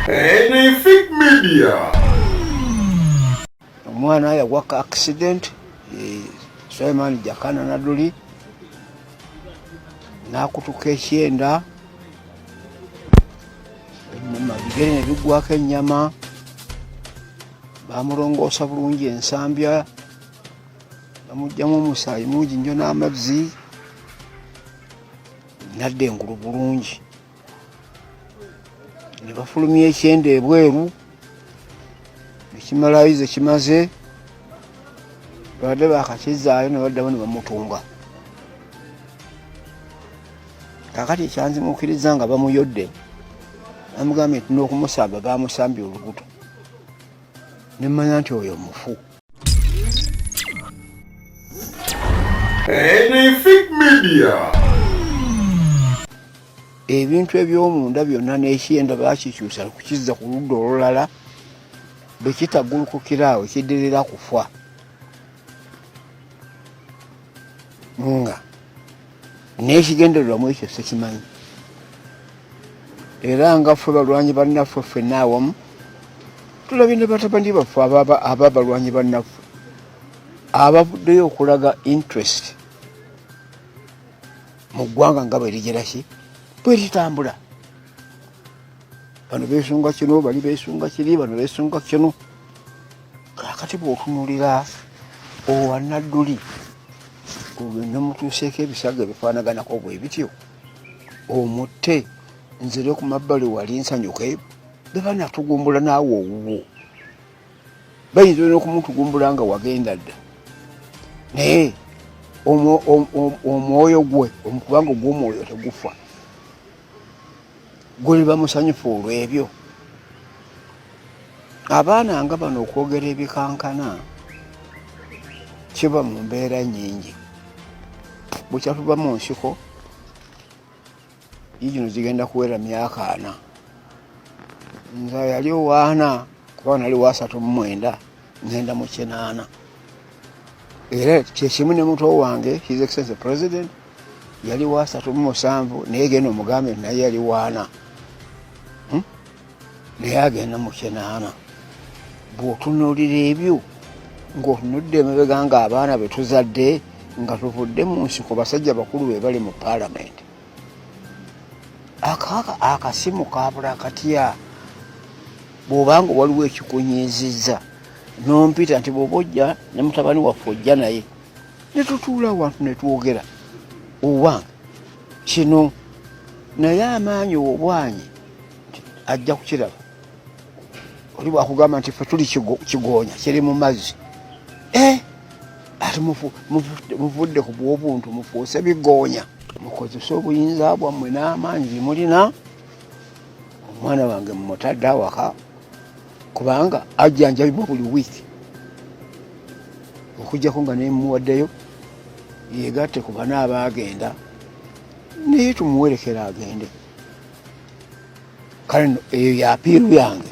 Anything Media. Omwana yagwa ka accident eh, Suleiman Jakana Naduli n'akutuka ekyenda enyama bigere ne biggwako ennyama bamulongoosa bulungi ensambya bamugyamu omusaayi mungi nnyo n'amazzi nadda engulu bulungi ne bafulumya ekyenda ebweru ekimalayo ze kimaze babadde bakakizaayo ne baddamu ne bamutunga kakati ekyanzimukiriza nga bamuyodde amugambye nti n'okumusamba bamusambye olubuto nemmanya nti oyo mufu ebintu ebyomunda byonna n'ekyenda bakikyusa kukizza ku ludda olulala bwe kitagulukukira awo kidirira kufa nga n'ekigendererwamu ekyo sikimanyi era nga ffe balwanyi bannaffe ffenna awamu tulabye ne batabani baffe aba balwanyi bannaffe abavuddeyo okulaga interest mu ggwanga nga bwerigeraki bweritambula bano besunga kino bali besunga kiri bano besunga kino kakati bwotunulira owanadduli ogenda mutuuseeko ebisago ebifaanaganako bwe bityo omutte nzire ku mabbali wali nsanyuke beba natugumbula naawe owuwo bayinza olina okumutugumbula nga wagenda dda naye omwoyo gwe omukubanga ogwomwoyo tegufa guliba musanyufu olw'ebyo abaana nga bano okwogera ebikankana kiba mu mbeera nyingi bukyatuva mu nsiko yigino zigenda kuwera myaka ana nza yali owaana kuba nali wasatu mumwenda ngenda mu kinaana era kyekimu ne muto wange his excellency president yali wasatu mu musanvu naye genda omugambe naye yali waana hmm? naye agenda mu kinaana bw'otunuulira ebyo ng'otunudde emabega ng'abaana be tuzadde nga tuvudde mu nsiko basajja bakulu be bali mu paalamenti akasimu kabula katya bwobanga waliwo ekikunyiizizza nompita nti bwoba ojja ne mutabani waffe ojja naye netutuula wantu netwogera owange kino naye amaanyi obwanyi ajja kukiraba oli bwakugamba nti fe tuli kigoonya kiri mu mazzi eh, ati muvudde ku bwobuntu mufuuse bigoonya mukozese obuyinza bwammwe n'amaanyi bimulina omwana wange mumutadde awaka kubanga ajjanjabibwa buli wiiki okujjako nga nemuwaddeyo yegatte ku bana abaagenda naye tumuwerekera agende kale eyo yapiiru yange